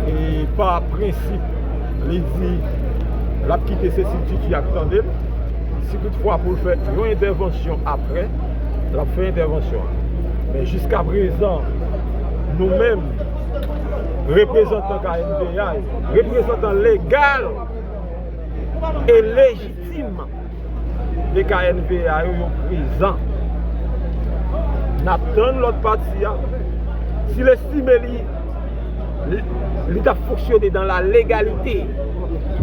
E pa prensip li di l ap kite se si Tutu ap tande l. Si tout fwa pou l fè yon entèvansyon aprè, l ap fè entèvansyon an. Men jiska prezan nou menm reprezantan knpa yo, reprezantan legal e lejitim. e knpa yo yo prezan nap tann lòt pati a sil estime li li tap fonksyone dan la legalite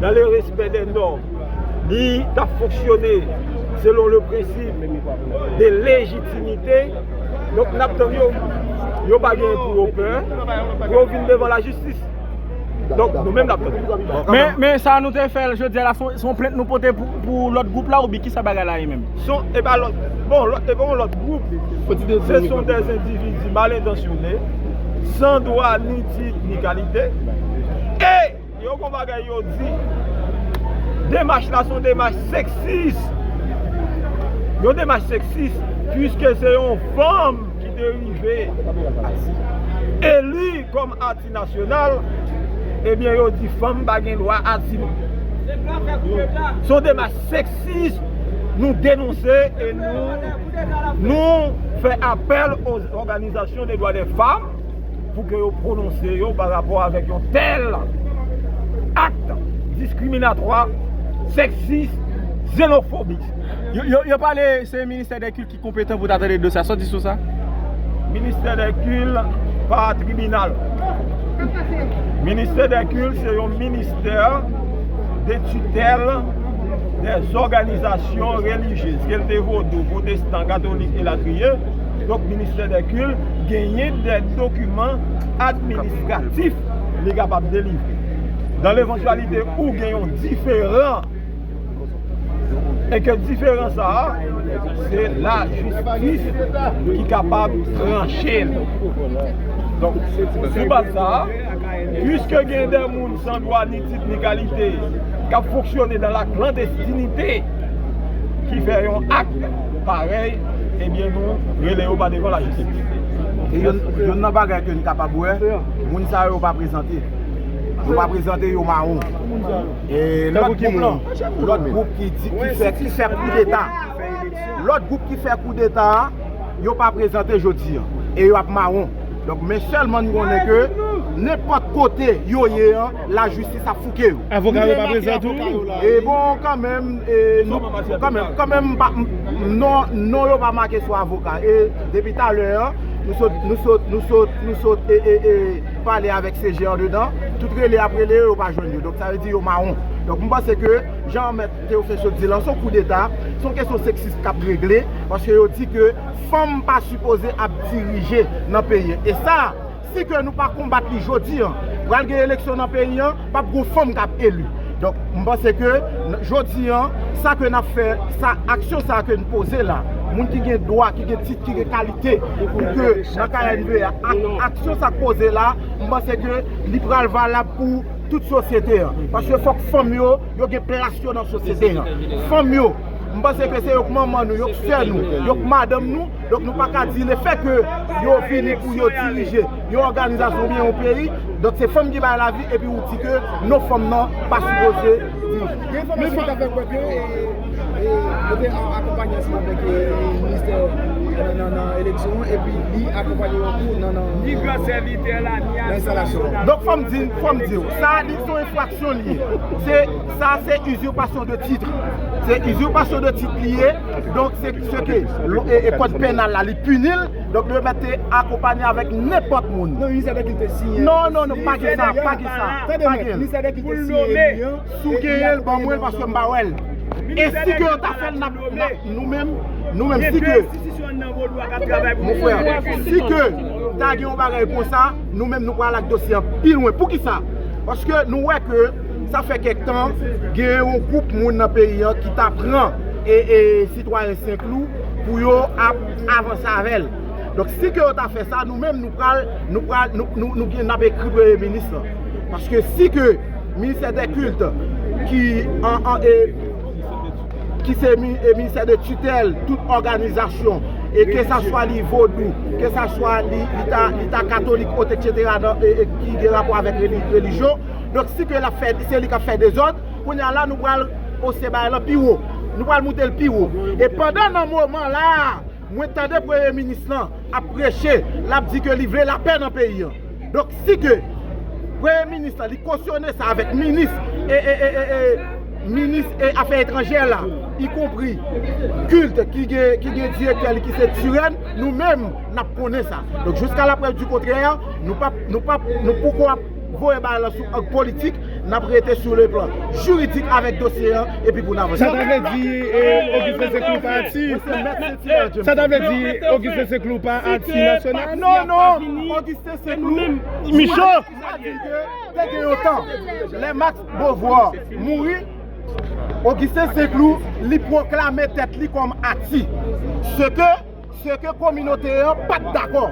dan le respè dè nòm li tap fonksyone selon le prensip de lejitimite donk nap tann yo yo pa gen pou yo pè pou yo vin devan lajistis Donk nou menm nap tande. Men sa nou te fè jodi a la son plent nou pote pou lòt gwoup la oubyen kisa bagay la ye menm? Son e pa lòt bon e pa yon lòt gwoup se son de endividi mal entansyone san dwa ni tit ni kalite e yo gon bagay yo di demach la son demach seksis yon demach seksis pwiske se yon fanm ki te rive eli kòm Amnisti Nasyonal, ebyen yo di fanm pa gen dwa asil. Son demach seksis nou denonse e nou fè apèl o òganizasyon de dwa de fanm pou ke yo pwononse yo pa rapò avèk yon tèl akt diskriminatwa, seksis, xenofobik. Konpetan pou ta tande dosye a soti sou sa. Ministè dè Kil pa tribinal. Ministè dè Kil se yon ministè de titèl dè zòganizasyon relijyez. Ke l te vodou, pwotestan, katolik elatriye. Donk ministè dè Kil genyen dè dokiman administratif li kapab delivre. Nan levantyalite ou gen yon diferan. E ke diferans sa a, se la jistis ki kapab tranche l. Donk, sou baz sa a, pwiske gen de moun san dwa ni tit ni kalite k ap fonksyone dan la klandestinite ki fè yon ak parèy, ebyen nou rele yo pa devan la jistis. E yonn nan bagay ke n kapab wè, moun sa yo pa prezante. Yo pa prezante, yo mawon. Lòt gwoup lan, lòt gwoup ki di, ki fè, ki fè koudeta. Lòt gwoup ki fè koudeta a, yo pa prezante jodi an. E yo ap mawon. Donk men sèlman n konnen ke, nenpòt kote yo ye an, lajistis ap fouke yo. Avoka yo pa prezan tou? E bon kanmenm, e nou, kanmenm, kanmenm m pa, non, non yo pa make sou avoka. E depi talè an, nou sot, nou sot, nou sot, nou sot, e, e, e. pale avèk se je andedan, tout rele yap rele yo yo pa jwenn yo, donk sa vle di yo mawon. Donk m panse ke jan mèt Théophile sot di lan son kou deta, son kesyon seksis kap regle, paske yo di ke fanm pa sipoze ap dirije nan peyi. E sa si ke nou pa konbat li jodi an, pral gen eleksyon nan peyi an, Pap gon fanm kap elu. Donk m panse ke jodi an sa ke nap fè sa aksyon sa ke n poze la moun ki gen dwa ki gen tit ki gen kalite pou ke nan knbe a aksyon sa k poze la m panse ke li pral valab pou tout sosyete an paske fòk fanm yo yo gen plas yo nan sosyete an fanm yo m panse ke se yo k manman nou yo k sè nou yo k madanm nou donk nou pa ka di le fè ke yo vini pou yo dirije yon òganizasyon oubyen yon peyi, donk se fanm ki bay lavi epi ou di ke non fanm nan pa sipoze viv. Gen enfòmasyon ki ta fè kwè ke yo te akonpanye ansanm avèk ministè nan eleksyon an epi li akonpanye yo tou nan enstalasyon an. Donk fòm di, fòm diw, sa a li son enfraksyon li ye. Se, sa a se usurpation de titre. Se usurpation de titre li ye, donk se, se ke kòd penal la li pini l. Donk li remèt te akonpanye avèk nenpòt moun. Non, li sèten ki te siyen. Non, non, non, pa gen sa, pa gen sa. Tande mèt, li sèten ki te siyen li an. Si w genyen l, ban mwen l paske m pa wè l. E si ke yo ta fè l, n ap nou menm, nou menm si ke. Gen 2 enstitisyon anndan Vodou a k ap travay pou nou. Mon frè, si ke ta gen yon bagay kon sa, nou menm nou pral ak dosye an pi lwen. Pou ki sa? Paske nou wè ke sa fè kèk tan gen yon gwoup moun nan peyi an ki ta pran sitwayen Senklou pou yo ap. avanse avè l. Donk si ke yo ta fè sa, nou menm nou pral, nou pral, nou gen, n ap ekri Premye Minis lan. Paske si ke Ministè dè Kilt ki an, an e, ki se Ministè de Titèl tout òganizasyon, e ke sa swa li Vodou, ke sa swa li ta, li ta Katolik, oteksetera, nan, e ki gen rapò avèk relijyon, donk si ke l ap fè, se li k ap fè dezòd, Kounye a la nou pral ose bagay lan pi wo. Nou pral moute l pi wo. E pandan nan moman la a, mwen tande premye minis lan ap preche, l ap di ke li vle lapè nan peyi an. Donk si ke premye minis lan li kosyone sa avèk minis e, e, e, e, minis e afè etranjè la, y konpri kilt ki gen, ki gen direktè li ki se Turenne, nou menm n ap konnen sa. Donk jiska laprèv di kontrè, nou pap, nou pap, nou poko ap. voye bagay lan sou ang politik, n ap rete sou le plan jiridik avèk dosye an epi pou n avanse. Sa ta vle di Ogisten se klou pa Ati? Sa ta vle di Ogisten se klou pa Ati nasyonal? Non, non! Ogisten se klou Michò! Sa di ke te gen yon tan, lè Max Beauvoir mouri, Ogisten se klou li pwoklame tèt li kòm Ati. Se ke. se ke kominote an pa t dakò.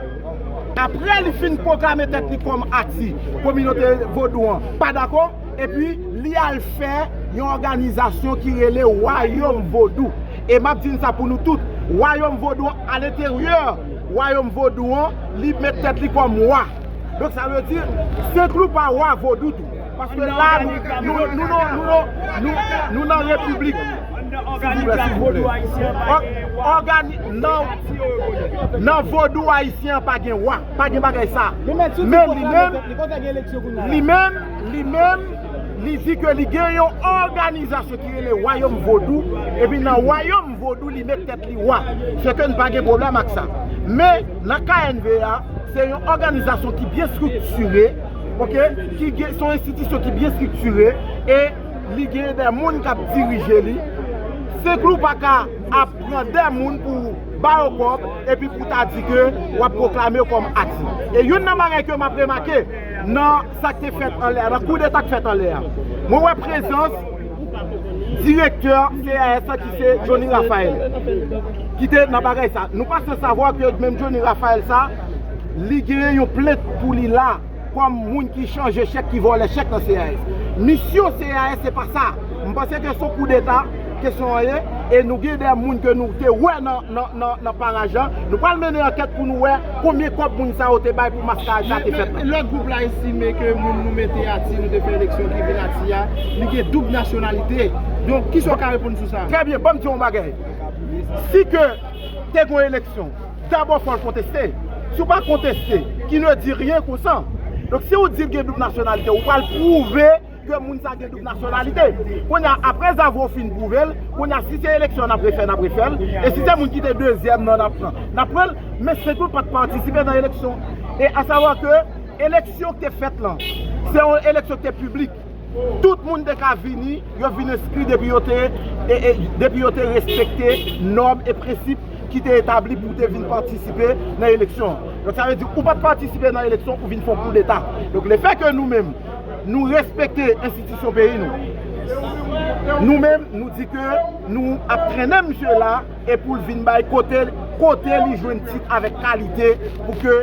Apre li fin pwoklame tèt li kòm Ati, kominote vodou an pa dakò, epi li al fè yon òganizasyon ki rele Wayòm Vodou. E m ap di n sa pou nou tout, Wayòm Vodou an, aleteryè Wayòm Vodou an, li met tèt li kòm Wa. Donk sa vle di, Senklou pa Wa Vodou tou. Paske la nou nan repiblik. Nan vodou ayisyen an pa gen wa. Pa gen bagay sa. Men li menm. Li menm. Li menm. Li di ke li gen yon organizasyon ki rele wayom vodou. Epi nan wayom vodou li met tet li wa. Se ke n pa gen problem ak sa. Men nan knva se yon organizasyon ki byen struktire. ok, ki gen, son enstitisyon ki byen striktire, e li gen dè moun kap dirije li, se klou pa ka ap pran dè moun pou ou ba yo kòb, epi pou ta di ke wap pwoklame yo kòm ati. E youn nan bagay ke map remake, nan sak te fèt anlè a, nan kou deta k fèt anlè a, mwen wè prezans direktè CAS la ki se Johnny Raphael, ki te nan bagay sa, nou pa san savwa ke menm Johnny Raphael sa, Li genyen yon plent pou li la kòm moun ki chanje chèk ki vòlè chèk nan CAS. Misyon CAS se pa sa. M panse ke son koudeta kesyon an ye e nou gen de moun ke nou te wè nan paraj la. Nou pral mennen ankèt pou nou wè konbyen kòb moun sa yo te bay pou maskaj sa te fèt la. Lòt gwoup la estime ke moun nou mete a ti nou te fè eleksyon ki vin a ti a, li gen doub nasyonalite. Donk, kisa ou ka reponn sou sa? Trè byen, banm di w yon bagay. Si ke te gen yon eleksyon. dabò fòl konteste, si ou pa konteste ki ne di ryen konsan, donk si ou di ou gen doub nasyonalite ou pral pwouve ke moun sa gen doub nasyonalite, kounye a apre zavou ou fin pwouve l, kounye a si se eleksyon nap refè nap refè l, e si se moun ki te dezyèm nan nap pran nap pran l, men se tou pat patisipe nan eleksyon, e asavwa ke eleksyon ki te fèt lan se yon eleksyon ki te piblik. Tout moun te ka vini, yo vin enskri depi yo te depi yo te respekte nòm e prensip ki te etabli pou te vin patisipe nan eleksyon an. Donk sa vle di ou pa t patisipe nan eleksyon ou vin fè yon koudeta. Donk le fè ke nou menm nou respekte enstitisyon peyi nou, nou menm nou di ke nou ap trennen misye la e pou l vin bay kote kote li jwenn tit avèk kalite pou ke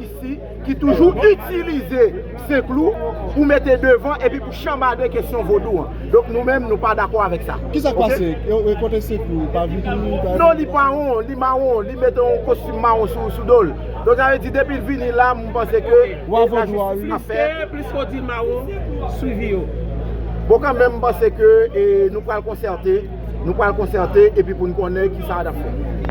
isi ki toujou itilize senklou pou mete devan epi pou chanbade kesyon vodou an donk nou menm nou pa dakò avèk sa ok. Kisak pase e kote senklou pa vini pa. Non li mawon li mawon li mete yon kostim mawon sou dol donk sa vle di depil vini la m panse ke wa vodou a wi. Mistè pliske w di mawon swivi yo. Bon kanmenm m panse ke nou pral konsète nou pral konsète epi pou n konnen kisa nap fè.